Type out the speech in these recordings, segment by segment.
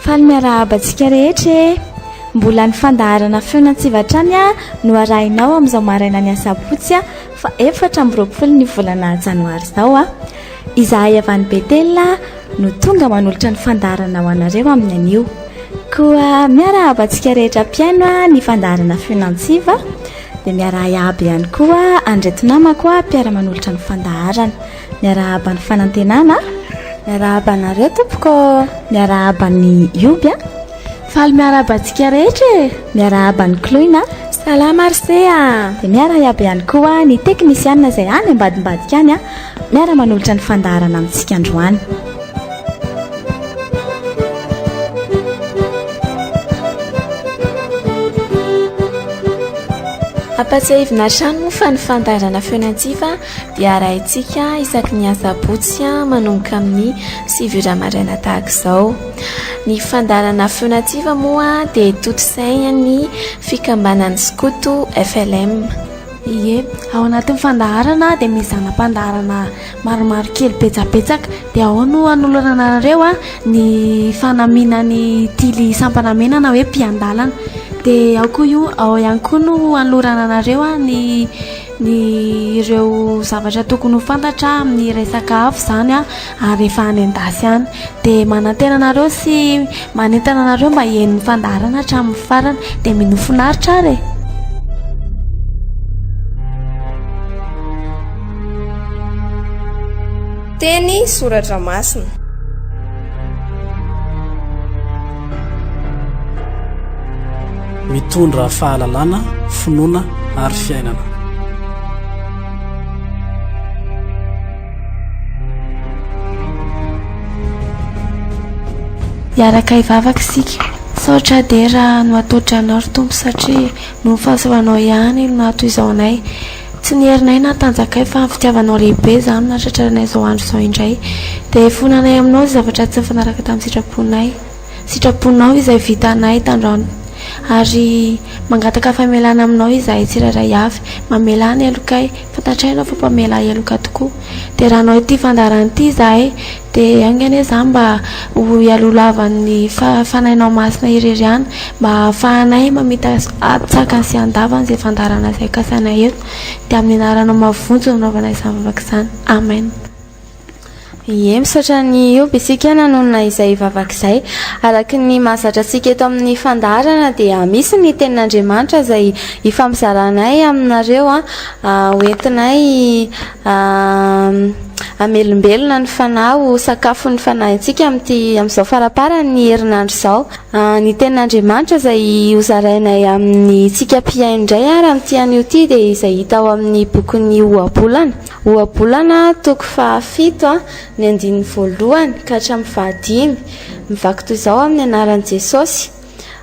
Faly miarahaba antsika rehetra e! Mbola ny fandaharana feon'antsiva hatrany no arahinao amin'izao marainan'ny asabotsy fa efatra amby roapolo ny volana janoary izao a! Izahay avy any Betela no tonga manolotra ny fandaharana ho anareo amin'ny anio. Koa miarahaba antsika rehetra mpihaino ny fandaharana feon'antsiva dia miarahaba ihany koa an'ireto namako mpiara-manolotra ny fandaharana. Miarahaba ny fanantenana, miarahaba anareo tompoko, miarahaba ny Yoby a. Faly miarahaba antsika rehetra e. Miarahaba ny Kloina. Salama Arsea. Dia miarahaba ihany koa ny teknisiana izay any ambadimbadika any a. Miara manolotra ny fandaharana amintsika androany. Ampatsiahivina hatrany moa fa ny fandaharana feon'antsiva dia arahintsika isaky ny asabotsy manomboka amin'ny sivy ora maraina tahaka izao. Ny fandaharana feo nativa moa dia tontosain'ny fikambanan'ny Skoto FLM. Ie, ao anatin'ny fandaharana dia misy zana-pandaharana maromaro kely betsabetsaka dia ao no hanolorana anareo ny fanamianan'ny tily sampana mena na hoe mpiandalana. Dia ao koa io, ao ihany koa no hanolorana anareo ny ny ireo zavatra tokony ho fantatra amin'ny resaka afo izany a ary efa any an-dasy any dia manantena anareo sy manentana anareo mba hihainoan'ny fandaharana hatramin'ny farany dia minoa finaritra ary e teny soratra masina Mitondra fahalalana, finoana ary fiainana. Hiaraka hivavaka isika. Misaotra ahy dia raha nohatohotry Anao, ry Tompo, satria noho ny fahasoavanao ihany no nahatohizao anay. Tsy ny herinay na ny tanjakay fa ny fitiavanao lehibe izany no nahatratra anay izao andro izao indray. Dia hifoha anay Aminao izay zavatra tsy nifanaraka tamin'ny sitraponay. Sitraponao izay vitanay tandraony. Ary mangataka famelana aminao izahay tsirairay avy. Mamelà ny helokay. Fantatray ianao fa mpamelà heloka tokoa. Dia raha hanao ity fandaharana ity izahay, dia enga anie izany mba ho ialolavan'ny Fanahinao Masina irery ihany, mba hahafahanay mamita an-tsakany sy an-davany izay fandaharana izay kasainay eto. Dia amin'ny anaranao mahavonjy no nanaovana izany vavaka izany. Amen. Ie, misaotra an'i Hiob isika nanonona izay vavaka izay. Araka ny mahazatra antsika eto amin'ny fandaharana dia misy ny tenin'Andriamanitra izay ifampizaranay aminareo ho entinay hamelombelona ny fanahy ho sakafon'ny fanahintsika amin'ity amin'izao faramparan'ny herinandro izao. Ny tenin'Andriamanitra izay hozarainay amintsika mpihaino indray ary amin'ity anio ity dia izay hita ao amin'ny bokin'ny Ohabolana. Ohabolana, toko fahafito, ny andininy voalohany ka hatramin'ny fahadimy. Mivaky toy izao amin'ny anaran'i Jesosy,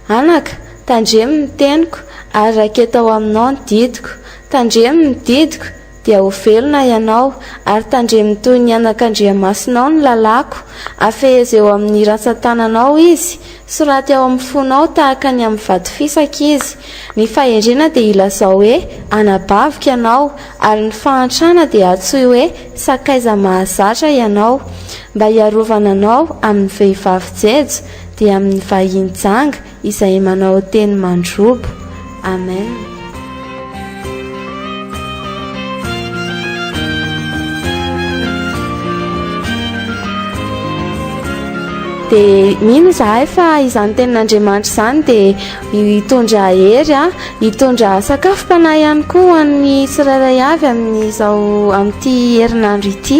Anaka, tandremo ny teniko, ary raketa ao aminao ny didiko. Tandremo ny didiko, dia ho velona ianao, ary tandremo toy ny anak'Andriamasinao ny lalàko. Afehezeo amin'ny rantsan-tananao izy, Soraty ao amin'ny fonao tahaka ny amin'ny vato fisaka izy. Ny fahendrena dia ilazao hoe anabaviko ianao, ary ny fahantrana dia antsoy hoe sakaiza mahazatra ianao. Mba hiarovana anao amin'ny vehivavy jejo dia amin'ny vahiny janga izay manao teny mandrobo. Amen. dia mino izahay fa izany tenin'andriamanitra izany dia hitondra hery a hitondra sakafom-panahy ihany koa ho an'ny tsirairay avy amin'izao amin'ity herinandro ity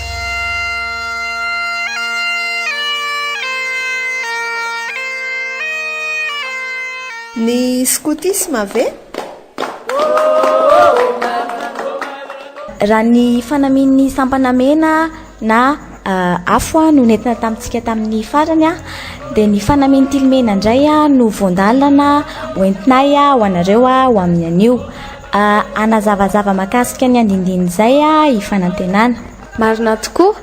Ny skotisma ve? Raha ny fanamian'ny sampana mena na afo no nentina tamintsika tamin'ny farany dia ny fanamian'ny tily mena indray no voandalana hoentinay ho anareo ho amin'ny anio. Hanazavazava mahakasika ny andindinin'izay aho, i Fanantenana. Marina tokoa,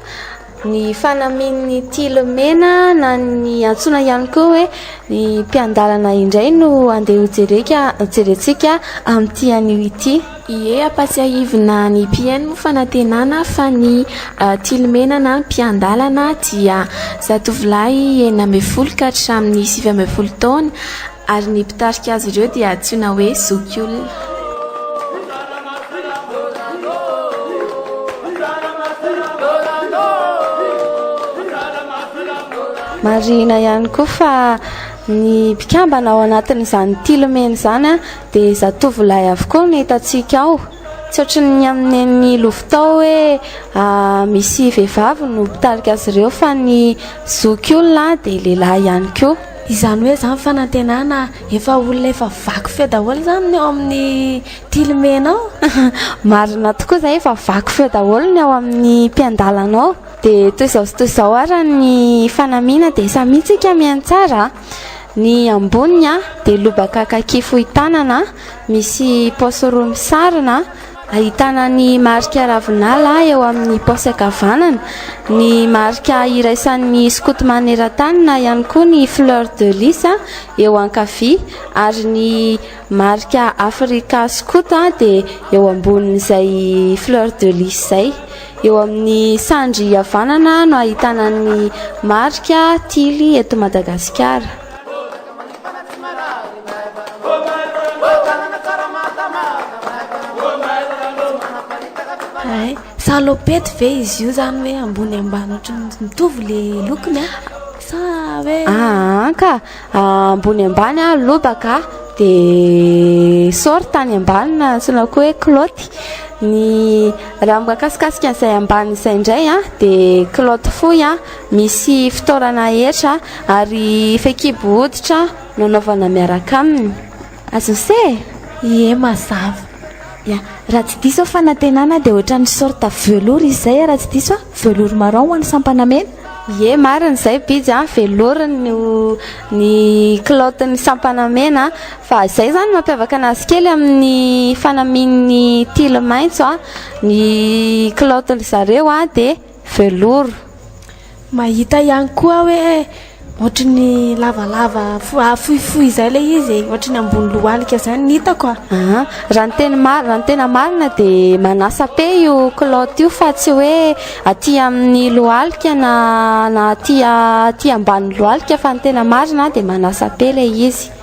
ny fanamian'ny tily mena na ny antsoina ihany koa hoe ny mpiandalana indray no andeha hojereka, hojerentsika amin'ity anio ity. Ie, ampatsiahivina ny mpihaino moa Fanantenana fa ny tily mena na ny mpiandalana dia zatovolahy enina ambin'ny folo ka hatramin'ny sivy ambin'ny folo taona, ary ny mpitarika azy ireo dia antsoina hoe zokiolona. Marihina ihany koa fa ny mpikambana ao anatin'izany tilomena izany dia zatovolahy avokoa no hitantsika ao tsy ohatran'ny ny amin'ny ny lovitao hoe ah, misy vehivavy no mpitarika azy ireo fa ny zoky olona dia lehilahy ihany koa Izany hoe izany fanantenana efa olona efa vaky feo daholo izany ny ao amin'ny tilimenao. Marina tokoa izay efa vaky feo daholo ny ao amin'ny mpiandalanao. Dia toy izao sy toy izao ara ny fanamiana dia samia tsika miantsara. Ny amboniny dia lobaka kaki fohy tanana misy paosy roa misarona. Ahitana ny marika ravinala eo amin'ny paosy ankavanana, ny marika iraisan'ny skoto maneran-tany na ihany koa ny fleur de lys eo ankavia ary ny marika Africa Scout dia eo ambonin'izay fleur de lys izay. Eo amin'ny sandry havanana no ahitana ny marika Tily eto Madagasikara. Hay, salopette ve izy io zany hoe ambony ambany ohatran'ny mitovy le lokony a? Sa hoe Ah, an ka ah, ambony ambany ah, lobaka ah, dia short any ambany na antsoina koa hoe kilaoty ny raha mikasikasika an'izay ambany izay indray ah, dia kilaoty fohy ah. Misy fitoerana hetra ary fehikibo hoditra nanaovana miaraka aminy. Azose e? Ie mazava. Ya, raha tsy diso aho fanantenana dia ohatran'ny sorte velours izy izay raha tsy diso aho, velours marron ho an'ny sampana mena? Ie marina izay Bijy a, velours ny ny kilaoty ny sampana mena fa izay izany no mampiavaka anazy kely amin'ny fanamian'ny tily maitso a, ny kilaoty ry zareo a dia. velours. Mahita ihany koa aho hoe ohatry ny lavalava fohifohy izay ilay izy e, ohatry ny ambony lohalika izany ny hitako a. Ah, raha ny teny marina, raha ny tena marina dia manasa-pe io culotte io fa tsy hoe aty amin'ny lohalika na na aty aty ambanin'ny lohalika fa ny tena marina dia manasa-pe ilay izy.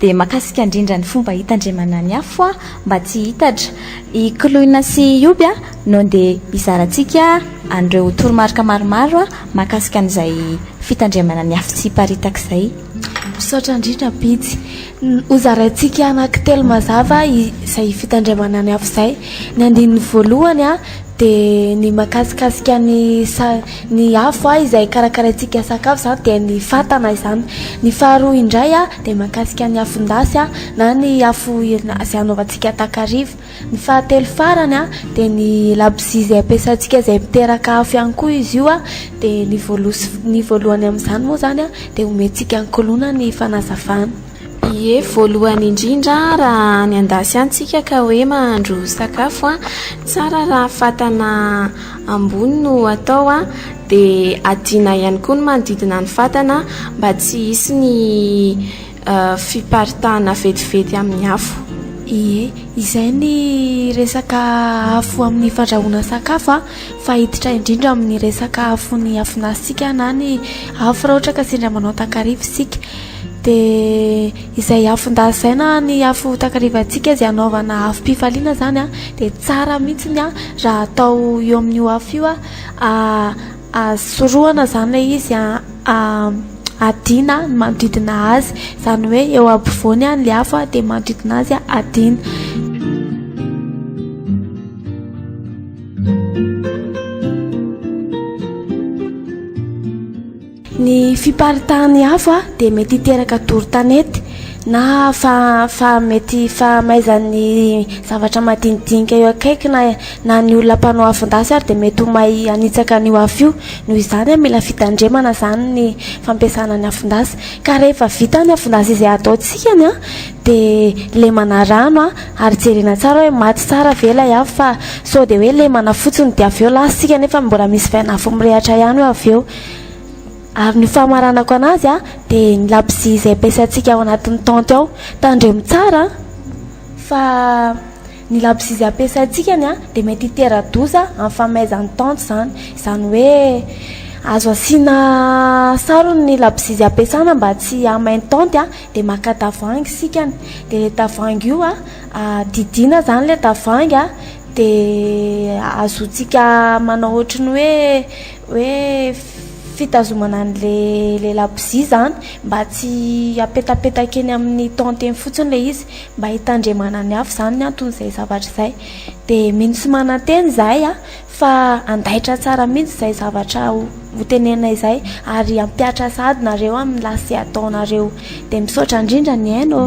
Dia makasika ndrindra ny fomba hitandremana ny afo a mba tsy hitatra. I Koloina sy i Yoby a no nde hizarantsika an'ireo toromarika maromaro a makasika an'izay fitandremana ny afo tsy hiparitaka izay. Misaotra ndrindra Pitsy. Hozaraintsika anaky telo mazava izay fitandremana ny afo izay. Ny andininy voalohany a dia ny makasikasika ny sa. Ny afo a izay karakaraintsika sakafo izany dia ny fatana izany. Ny faharoa indray a dia mahakasika ny afon-dasy a na ny afo irina izay anaovantsika takariva. Ny fahatelo farany a dia ny labozia izay ampiasaintsika izay miteraka afo ihany koa izy io a dia ny voalohany amin'izany moa izany a dia omentsika an-kolona ny fanazavana. Ie, voalohany indrindra raha any an-dasy any tsika ka hoe mahandro sakafo a, tsara raha fatana ambony no atao a, dia adina ihany koa ny manodidina ny fatana mba tsy hisy ny fiparitahana vetivety amin'ny afo. Ie, izay ny resaka afo amin'ny fandrahoana sakafo a, fa hiditra indrindra amin'ny resaka afon'ny afon'asy tsika na ny afo raha ohatra ka sendra manao takariva isika. Dia izay afo ndazaina ny afo takarivantsika izay anaovana afom-pifaliana izany a, dia tsara mihitsy ny a raha atao eo amin'io afo io a sorohana izany ilay izy a adina ny manodidina azy izany hoe eo ampovoany any ilay afo a dia manodidina azy a adina Ny fiparitahan'ny afo dia mety hiteraka doro tanety na fa fa mety fahamaizan'ny zavatra madinidinika eo akaiky na na ny olona mpanao afon-dasy ary dia mety ho may hanitsaka an'io afo io noho izany mila fitandremana izany ny fampiasana ny afon-dasy ka rehefa vita ny afon-dasy izay ataontsika ny an dia lemana rano an ary jerena tsara hoe maty tsara ve ilay afo fa sao dia hoe lemana fotsiny dia avy eo lasa isika nefa mbola misy vain'afo mirehatra ihany hoe avy eo Ary ny famaranako anazy a dia ny labozia izay ampiasaintsika ao anatin'ny tente ao. Tandremo tsara fa ny labozia izay ampiasaintsika ny a dia mety hitera-doza amin'ny famaizan'ny tente izany. Izany hoe azo asiana sarony ny labozia izay ampiasana mba tsy hamay ny tente a. Dia maka tavoahangy isika a, dia ilay tavoahangy io a didiana izany ilay tavoahangy a dia azontsika manao ohatry ny hoe... hoe fitazomana an'le lehilahy bozia izany mba tsy hapetapetaka eny amin'ny tente eny fotsiny le izy mba hitandremana ny hafa izany ny anton'izay zavatra izay de mino sy mananteny izahay a fa andaitra tsara mihitsy izay zavatra hotenenina izay ary hampiatra sahady nareo amin'ny lase ataonareo de misaotra indrindra ny aina ô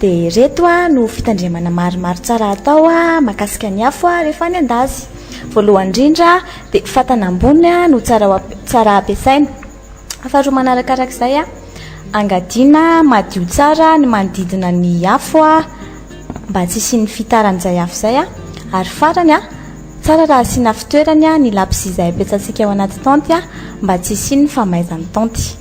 Dia ireto no fitandremana maromaro tsara hatao makasika ny afo rehefa any an-dazy. Voalohany indrindra dia fatana ambony no tsara tsara ampiasaina. Faharoa manarakaraka izay angadiana madio tsara ny manodidina ny afo mba tsy hisian'ny fitaran'izay afo izay. Ary farany tsara raha asiana fitoerany ny lapisy izay ampiasaintsika ao anaty taonty mba tsy hisian'ny famaizan'ny taonty.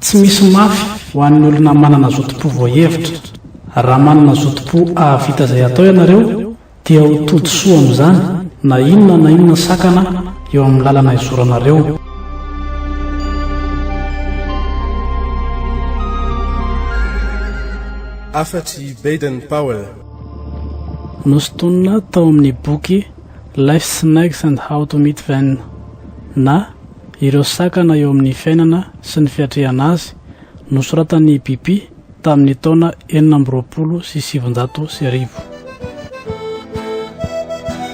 Tsy misy mafy ho an'ny olona manana zotom-po voahevitra. Raha manana zotom-po hahavita izay hatao ianareo, dia ho tody soa amin'izany na inona na inona sakana eo amin'ny lalana izoranareo. Afa-tsy Baden-Powell, Nosintonina tao amin'ny boky Life's Snags and How to Meet Them na Ireo Sakana eo Amin'ny Fiainana sy ny Fiatrehana Azy, nosoratan'i Bipi tamin'ny taona enina amby roapolo sy sivinjato sy arivo.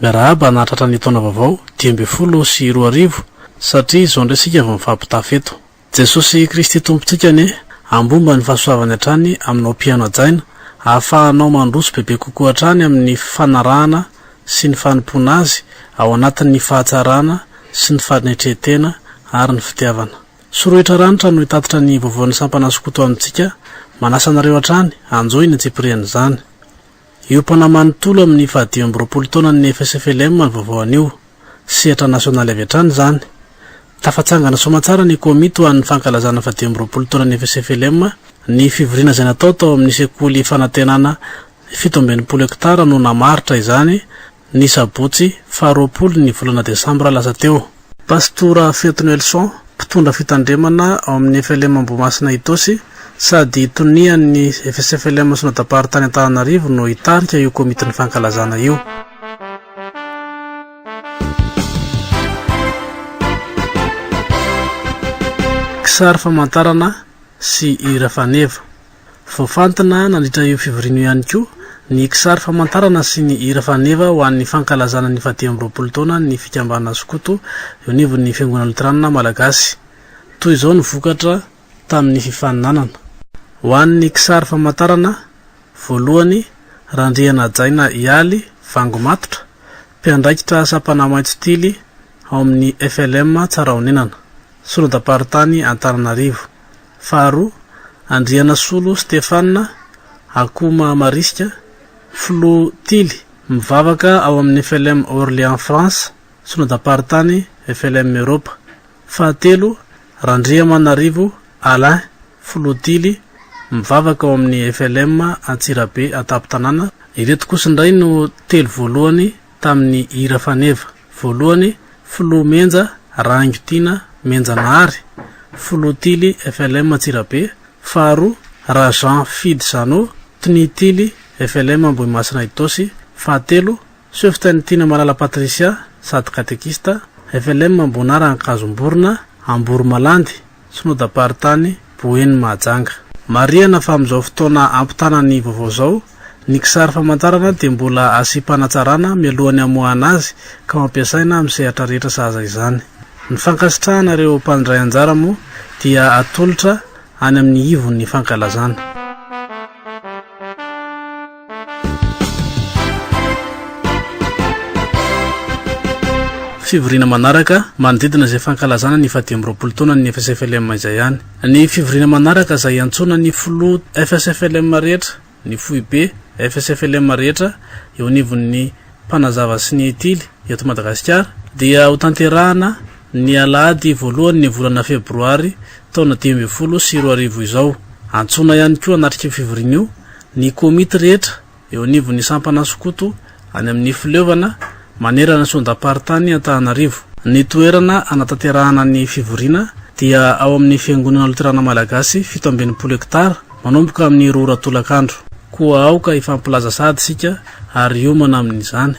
Miarahaba anah tratra ny taona vaovao dimy ambin'ny folo sy roa arivo satria izao indray isika vao mifampitafy eto. Jesosy Kristy Tompontsika anie hambomba ny fahasoavany hatrany aminao mpihaino hajaina ahafahanao mandroso bebe kokoa hatrany amin'ny fanarahana sy ny fanompoana Azy ao anatin'ny fahatsarana sy ny fanetren-tena ary ny fitiavana. Sorohitra ranitra no hitatitra ny vaovaon'ny sampana skoto amintsika manasa anareo hatrany hanjohy ny antsipirian'izany. Hiompana manontolo amin'ny fahadimy amby roapolo taonany ny FSFLM amin'ny vaovao anio. Sehatra nasionaly avy hatrany izany. Tafatsangana soamantsara ny komity ho an'ny fankalazana fahadimy amby roapolo taonan'ny FSFLM, ny fivoriana izay natao tao amin'ny sekoly fanantenana fito amby enimpolo hektara no namaritra izany, ny sabotsy faha roapolo ny volana desambra lasa teo. Pastora Feto Nelson, mpitondra fitandremana ao amin'ny FLM Ambohimasina Itaosy sady tonian'ny FSFLM Synodam-paritany Antananarivo no hitarika io komitin'ny fankalazana io. Kisary famantarana sy hira faneva. Voafantina nandritra io fivoriana io ihany koa ny kisary famantarana sy ny hira faneva ho an'ny fankalazana ny fahadimy amby roapolo taona ny fikambanana skoto eo anivon'ny Fiangonana Loteranina Malagasy. Toy izao ny vokatra tamin'ny fifaninanana. Ho an'ny kisary famantarana voalohany, Randrianajaina Ialy Vangomatotra, mpiandraikitra sampana Maitso Tily ao amin'ny FLM Tsarahonenana, solondamparitany Antananarivo. Faharoa, Andrianasolo Stephane Akoma Marisika, filoha tily mivavaka ao amin'ny FLM Orléans France, Synodam-paritany FLM Eropa. Fahatelo, Randriamanarivo Alain, filoha tily mivavaka ao amin'ny FLM Antsirabe Antampon-tanàna. Ireto kosa indray no telo voalohany. tamin'ny hira faneva, voalohany, Filoha Menja, Raingo Tiana, Menja Nahary, Filoha Tily, FLM Antsirabe, faharoa, Rajean Fidy Jeannot, Tny Tily, FLM Ambohimasina Itaosy, fahatelo, Seftain Tiana Malala Patricia, sady katekista, FLM Ambonara Ankazomborona, Amboromalandy, Synodam-paritany Boeny Mahajanga. Marihana fa amin'izao fotoana ampitana ny vaovao izao, ny kisary famantarana dia mbola asiam-panatsarana mialohan'ny hamoahana azy ka ho ampiasaina amin'ny sehatra rehetra sahaza izany. Ny fankasitrahana ireo mpandray anjara moa dia atolotra any amin'ny ivon'ny fankalazana. Fivoriana manaraka, manodidina izay fankalazana ny faha-dimy amby roapolo taonany ny FSFLM izay ihany. Ny fivoriana manaraka izay iantsoana ny filoha FSFLM rehetra, ny foibe FSFLM rehetra eo anivon'ny mpanazava sy ny tily eto Madagasikara dia ho tanterahana ny alahady voalohan'ny volana febroary taona dimy ambin'ny folo sy roa arivo izao. Antsoina ihany koa hanatrika io fivoriana io Ny komity rehetra eo anivon'ny sampana skoto any amin'ny fileovana manerana ny sondam-paritany Antananarivo. Ny toerana hanatanterahana ny fivoriana dia ao amin'ny Fiangonana Loterana Malagasy fito amby enimpolo hektara, manomboka amin'ny roa ora tolakandro. Koa aoka hifampilaza sahady isika ary hiomana amin'izany.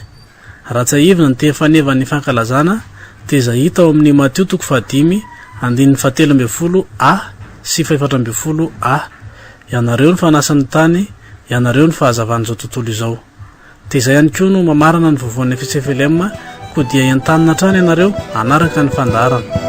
Raha tsiahivina ny teny fanevan' ny fankalazana dia izay hita ao amin' ny Matio toko fahadimy andininy fahatelo ambin'ny folo A sy fahefatra ambin'ny folo A, Ianareo ny fanasan' ny tany, ianareo ny fahazavan' izao tontolo izao. Dia izay ihany koa no mamarana ny vovoan' ny Efisefelema, Koa dia entanina hatrany ianareo hanaraka ny fandaharana.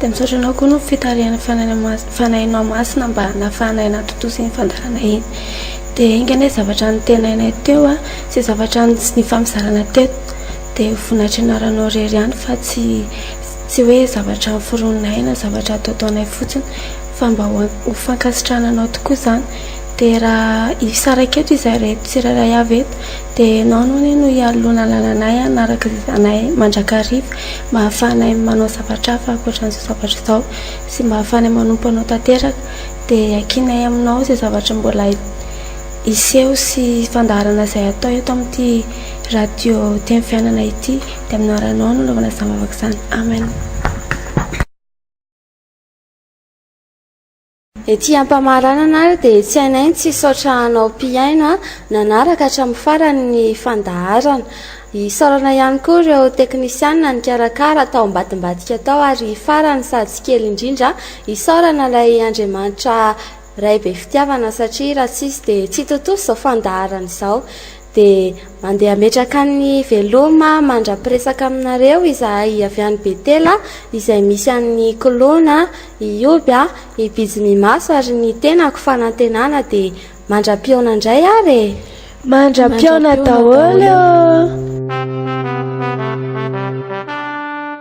Dia misaotra anao koa no fitarihana fanahy anao masina mba nafahanay natontosa iny fandaharana iny. Dia enga anie zavatra nitenainay teo a, sy zavatra nifampizarana teto dia vonatry ny anaranao irery ihany fa tsy tsy hoe zavatra noforoninay na zavatra ataotaonay fotsiny fa mba ho fankasitrahana anao tokoa izany. Dia raha hisaraka eto izahay reto tsirairay avy eto. Dia ianao no anie no hialona lalanay hanaraka izay zanay mandrakariva mba hahafahanay manao zavatra hafa ankoatran'izao zavatra izao sy mba hahafahanay manompo anao tanteraka dia iakinay aminao izay zavatra mbola hiseho sy fandaharana izay hatao eto amin'ity radio teny fiainana ity dia amin'ny anaranao no anaovana izany vavaka izany amen. Ety ampamaranana ary dia tsy hainay ny tsy hisaotra anao mpihaino nanaraka hatramin'ny farany ny fandaharana. Isaorana ihany koa ireo teknisianina nikarakara tao ambadimbadika tao ary farany sady tsy kely indrindra isaorana ilay Andriamanitra Ray be fitiavana satria raha tsy izy dia tsy hitontosa izao fandaharana izao. Dia mandeha hametraka ny veloma mandra-piresaka aminareo izahay avy any Betela, izay misy an'i Klona, i Hioby, i Bijiminmaso ary ny tenako fanantenana, dia mandra-pihaona indray ary e! Mandra-pihaona daholo ô!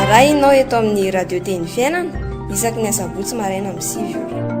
Arahinao eto amin'ny Radio Teny Fiainana isaky ny asabotsy maraina amin'ny sivy ora.